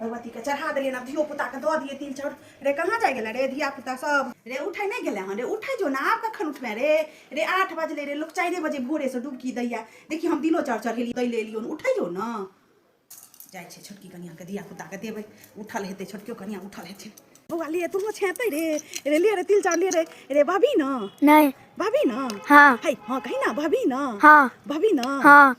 भगवती के चढ़ा दिलियै आब धियो पुता के दऽ दियै तिल चाउर रे कहाँ जाय गेलै रे धिया पुता सब रे उठै नहि गेलै हँ रे उठै जो ने आब कखन उठबै रे रे आठ बजले रे लोक चारिए बजे भोरे से डुबकी दैया देखी हम दिलो चाउर चढ़ेली दै ले एलियो उठै जो ने जाइ छै छोटकी कनिया के धिया पुता के देबै उठल हेतै छोटकियो कनिया उठल हेतै बौआ लिए तू छेतै रे रे लिए रे तिल चाउर लिए रे रे भाभी न नहि भाभी न हाँ है हाँ कही ना भाभी न हाँ भाभी न हाँ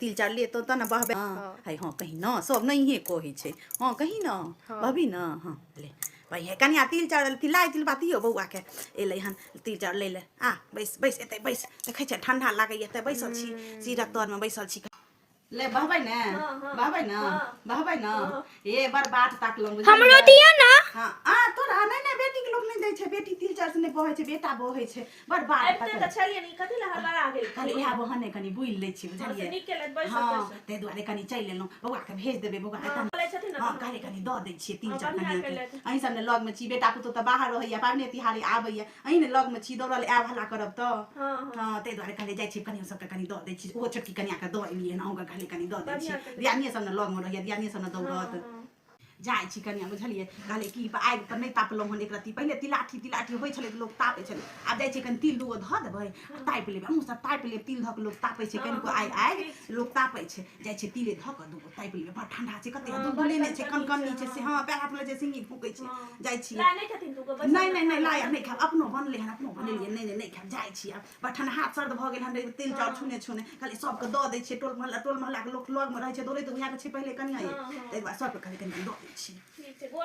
तिल चार ले तो तना बहबे हाँ। है हाँ कहीं ना सब नहीं है को ही छे हाँ कहीं ना हाँ। बहबी ना हाँ ले भाई है कनिया तिल चार तिल लाई तिल बाती हो बउआ के ए ले हन तिल चार ले ले आ बैस बैस एते बैस देखे छे ठंडा लागे एते बैसल छी सीरा तोर में बैसल छी ले बहबै ने हाँ, हाँ। बहबै ने हाँ। बहबै ने ए बर बात ताक लम हमरो दिया ना हां आ तोरा नै नै बेटी के लोग नै दै छै बेटी तिल चार से नै बहै छै बेटा बहै छै बड़ बात आबिते पकड़ तऽ छलियै ने कथी लए हड़बड़ा गेल खाली इएह बहाने कनि बुलि लै छी हमसे बुझलियै नीक केलथि बैसत हँ बैसत ताहि दुआरे कनि चलि एलहुँ बौआके भेज देबै बौआ हँ, एतऽ बोलै छथिन ने हँ तऽ- कहले कनि दऽ दै छियै तीन हँ, चार बढ़िआँ कनियाँ केलथि। के अहीं सब ने लगमे छी बेटा पुतहु तऽ बाहर रहैया पाबने तिहारे आबैया अहीं ने लगमे छी दौड़ल आयब हल्ला करब तऽ हँ हँ हँ ताहि दुआरे कहले जाइ छी कनियो सबके कनि दऽ दै छी ओहो छोटकी कनियाँके दऽ एलियै हन अहूँके कहले कनि दऽ दै छी बढ़िआँ केलथि। दियादनिये सब ने लगमे रहैया दियादनिये सब ने हँ, दौड़त हँ। जाइ छी कनिया बुझलियै कहले कि आगि पर नहि तापलहुँ हन एक रत्ती पहिले तिलाठी तिलाठी होइ छलै तऽ लोक तापै छलै आब जाइ छै कनि तिल दूगो धऽ देबै आ तापि लेबै हमहूँ सब तापि लेब तिल धऽ कऽ लोक तापै छै कनिको आगि आगि लोक तापै छै जाइ छै तिले धऽ कऽ दूगो तापि लेबै बड़ ठंडा छै कते हँ, दूर बड़ लेने छै ठंडा कन कनी छै से हँ पैर हाथ लऽ छै सिंगी फूकै छै जाइ छी लाय नहि खेथिन तू गो बैसल नहि नहि नहि लाया नहि खायब अपनो बनलै हन अपनो बनेलियै नहि नहि नहि खायब जाइ छी आब बठन हाथ सर्द भऽ गेल हन रे तेल चाउर छुने छुने कहलियै सबके दऽ दै छियै टोल मोहल्ला टोल मोहल्लाके लोक लगमे रहै छै दौड़ैत उएहके छै पहिले कनिया ये ताहि दुआरे सबके कहलियै कनिया दऽ दै छियै ठीक छै गोर